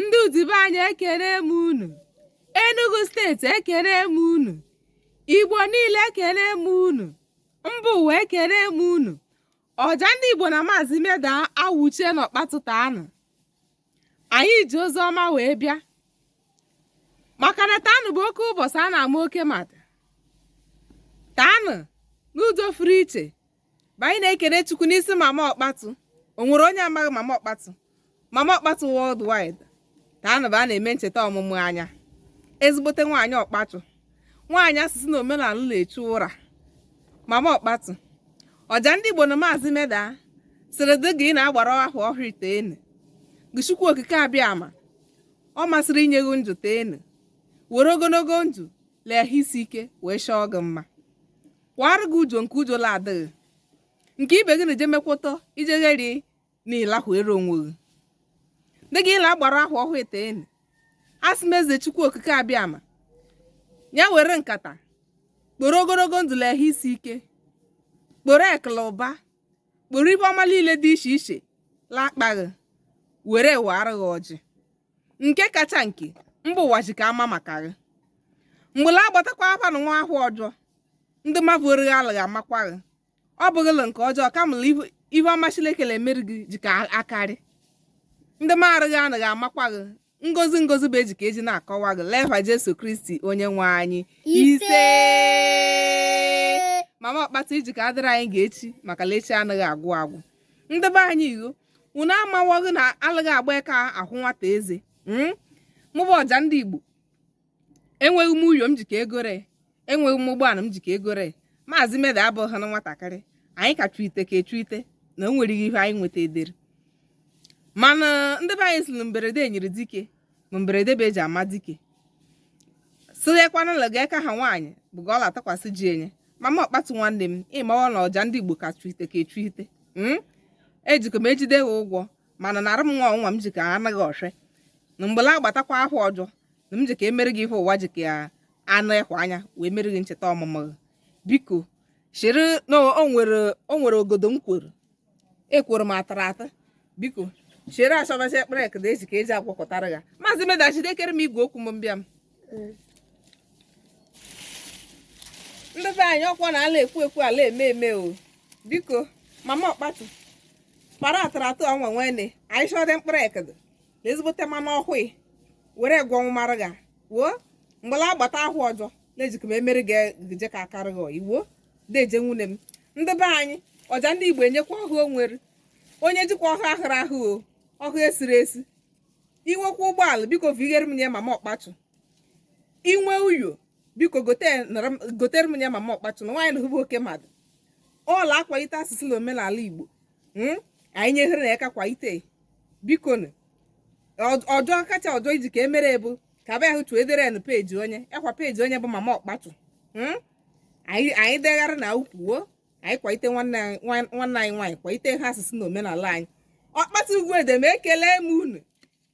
ndị udi be anyị ekele m unu enugu steeti ekele m unu igbo niile ekele m unu mba ụwa ekele m unu ọja ndị igbo na maazị meda awụchie na ọkpatu taanụ anyị ji ozi ọma wee bịa maka na taanụ bụ oke ụbọchị a na-ama oke mmadụ taanụ n'ụzọ fụrụ iche bụ anyị na-ekene Chukwu n'isi mama ọkpatu o nwere onye amaghị mama ọkpatu mama ọkpatu worldwide taanụ bụ a na-eme ncheta ọmụmụ ya ezigbote nwaanyị ọkpatu nwaanyị asụsụ na omenala na-echu ụra mama ọkpatu ọja ndị Igbo na maazị meda sịrị dị ga ị na-agbara ahọ ọhụrụ teenụ gị Chukwu okike abịama ọ masịrị inye gị ndụ teenụ were ogologo ndụ la ahụ isi ike wee chọọ gị mma kwara gị ujo nke ujo la adịghị nke ibe gị na-eje mekwụtọ ije gheri na ịlahụ ere onwe gị dị ga ị la-agbara ahọ ọhụụ teenụ asị m eze chukwu okike abịama ya were nkata kporo ogologo ndụ la ehụ isi ike kporo ekụ la ụba kporo ive ọma niile dị iche iche lakpaghị were wara gị ọjị nke kacha nke mba ụwa ji ka ama maka gị mgbe la agbatakwa afa na nwa ahọ ọjọ ndị mmadụ orighi alụghị amakwa gị ọ bụghị la nke ọjọọ kama la ihe ọma Chineke na-emere gị ji ka akarị ndị marụghị anaghị amakwa gị ngozi ngozi bụ eji ka eji na-akọwa gị l'eva Jesu Kristi onye nwe anyị ise mama ọkpatu ị ji ka adịrị anyị ga echi maka la echi anaghị agwụ agwụ ndị be anyị igho unu amawaghị na alụghị agba aka ahụ nwata eze hmm? mụ bụ ọja ndị igbo enweghị m ụyọ m ji ka egore enweghị m ụgbọala m ji ka egore maazị meda abụghị na nwatakịrị anyị ka chụite ka echụite na o nwere ihe anyị nweta edere mana ndị be anyị sị na mberede nyịrị dike ma mberede bụ eji ama dike sịghịkwa na la ga eka ha nwaanyị bụ ga ọ la-atụkwasị ji enye mama ọkpatu nwanne m ị mawa na ọja ndị igbo ka chuite ka echuite hmm? ejikọ m ejide ha ụgwọ mana narụ m nwa ọnwa m ji ka anaghị ọhre na mgbe la agbatakwa ahọ ọjọ na m ji ka emere gị ihe ụwa ji ka anụ ịhụ anya wee mere gị ncheta ọmụmụ gị biko chịrị na o nwere ogodo m kwuru ekworo m atara ata biko chere achọbazi ekpere ekede eji ka eji agwakọtara ya maazị meda jidekere m igwe okwu m mbịa m ndị be anyị ọ kwa na a la-ekwu ekwu a la-eme eme o biko mama ọkpatu kpara atara atụ ọnwa nwene anyị chọdị mkpụrụ ekede na ezigbote mmanụ ọhụụ were gwọ nwụmara ga wuo mgbe la agbata ahọ ọjọ na-ejikọ m emere ga-eje ka akarị gị iwuo deje nwunye m ndị be anyị ọja ndị igbo enyekwa ọhụ o nwere onye jikwa ọhụ ahụrụ ahụ o ọhụ esiri esi inwekwa ụgbọala biko vighere m nye mama okpatu inwe uyo biko gote- nara m- gotere m nye mama okpatu na nwaanyị nahụ bụ oke mmadụ ọ la-akwalite asụsụ na omenala igbo Mm? anyị nyehere nụ ya aka kwalite biko nụ Ọ- ọjọọ kacha ọjọọ iji ka emere bụ ka abịa hụ chuo edere na peji onye ekwa peji onye bụ mama okpatu Mm? anyị anyị degharị na ukwuo anyị kwalite nwanne anyị nwa- nwanne anyị nwaanyị kwalite ha asụsụ na omenala anyị okpatu ugwu edem ekele m unu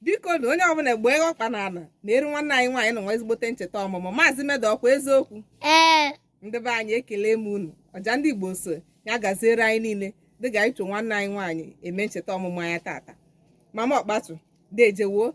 biko na onye ọbụla gbee ọkpa na ala na eru nwanne anyị nwaanyị na nwa ezigbote ncheta ọmụmụ maazị meda ọkwa eziokwu ee ndị be anyị ekele m unu ọja ndị igbo sị ya gaziere anyị niile dịka anyị cho nwanne anyị nwaanyị eme ncheta ọmụmụ ya tata mama okpatu dejewo